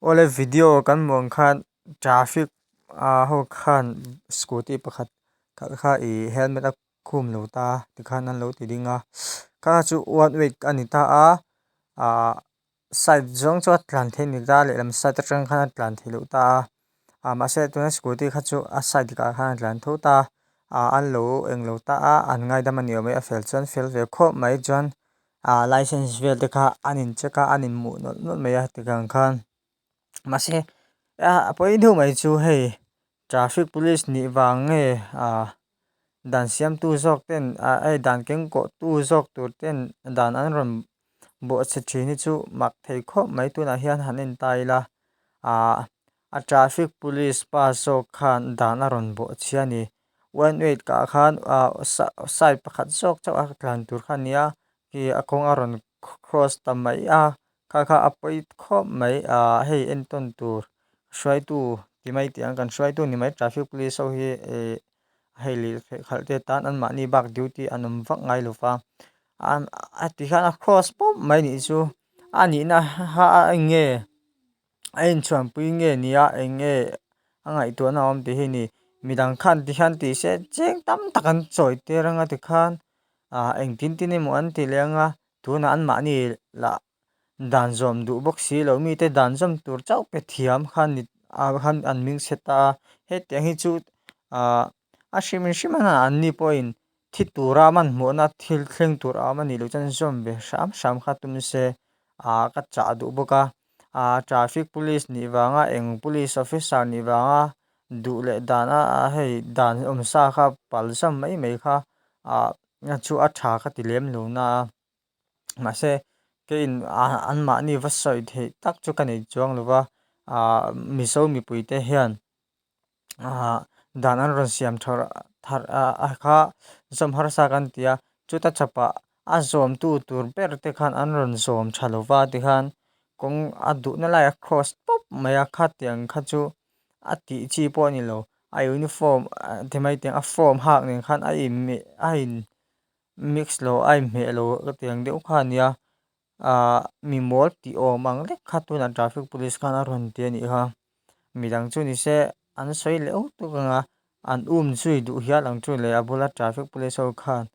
Awle video kan hmuh ang khan traffic a ho khan scooty pakhat kal kha i helmet a khum lo ta tikhan an lo ti ding a ka chu one way a ni ta a ahh side zawng chu a tlan theih a ni ta lehlam side atang khan a tlan theih loh ta a. A mahse tuna scooty kha chu a side dikah khan a tlan tho ta a, an lo eng lo ta a, an ngaidam a ni awm e, a fel chuan fel ve khawp mai chuan ah licence vel te kha an in check a, an inhmuh nawlh nawlh mai a tiang khan mahse a pawi deuh mai chu hei traffic police nih vang nge ah. dan siamtu zawk ten ai dan keng kawh tu zawk tur ten dan an rawn buatchhe thin hi chu mak thei khawp mai tunah hian han en ta ila ah a traffic police pa zawk khan dan a rawn buatchhe a ni one wait kah khan ah side pakhat zawk chauh a tlan tur khan nia khi a kawng a rawn cross ta mai a. Kha kha a pawi khawp mai a, hei entawn tur hruaitu ti mai tiang kan hruaitu ni mai traffic police ho hi hei leh theih khalh te tan an mahni bak duty an awm vak ngai lova a ti hian a cross pawp mai nih chu a nihna ha a eng nge a inchhuanpui nge nia eng nge a ngaihtuahna a awm tih hi ni mi dang khan ti hian tih se cheng tam tak an chawi tir ang a tikhan engtin tin emaw an ti leh ang a. Tuna anmahni lah dan zawm duh bawk si lo mite dan zawm tur chauh pe thiam khan ni ah khan an ming se ta a, hetiang hi chu ah a hrimin hrim a na anni pawhin thi tura man hmuhna thil thleng tur a awm a nih loh chuan zawm ve hram hram kha tum se ah ka chah duh bawk a ah traffic police nih vanga eng police officer nih vanga duh leh dan a hei dan awmsa kha palh zam mai mai kha ah. Nge chu a tha ka ti lem lo na a, mahse kei in an mahni va sawi theih tak chu ka nei chuang lo va, aah Mizo mipui te hian aah dan an rawn siam tha tha a kha zawm harsa kan ti a, chuta chapa a zawm tu tur ber te khan an rawn zawm tha lo va tikhan kawng a duhna laia cross tawp mai a kha tiang kha chu a tih chi pawh a ni lo a uniform ti mai tiang a form hak nen khan a in meh a in mix lo a in hmeh lo ka ti ang deuh kha a nia ahh mi mawl ti awm ang lek kha tunah traffic police khan a rawn ti a nih kha mi dang chu ni se an sawi leuh tuk ang a an um chu i duh hial ang chu leh a bula traffic police ho khan--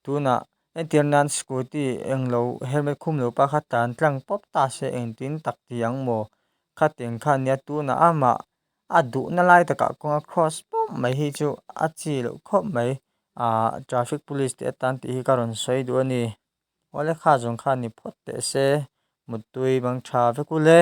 Tunah entir nan scooty eng lo helmet khum lo pa kha tan tlang pawp ta se engtin tak ti ang maw? Khateng kha nia tunah amah a duhna lai takah kawnga cross pawm mai hi chu a chi loh khawp mai. Aah traffic police te atan tih hi ka rawn sawi duh a ni. Awle kha zawng kha ni phawt teh se mut tui bang tha vek ul e.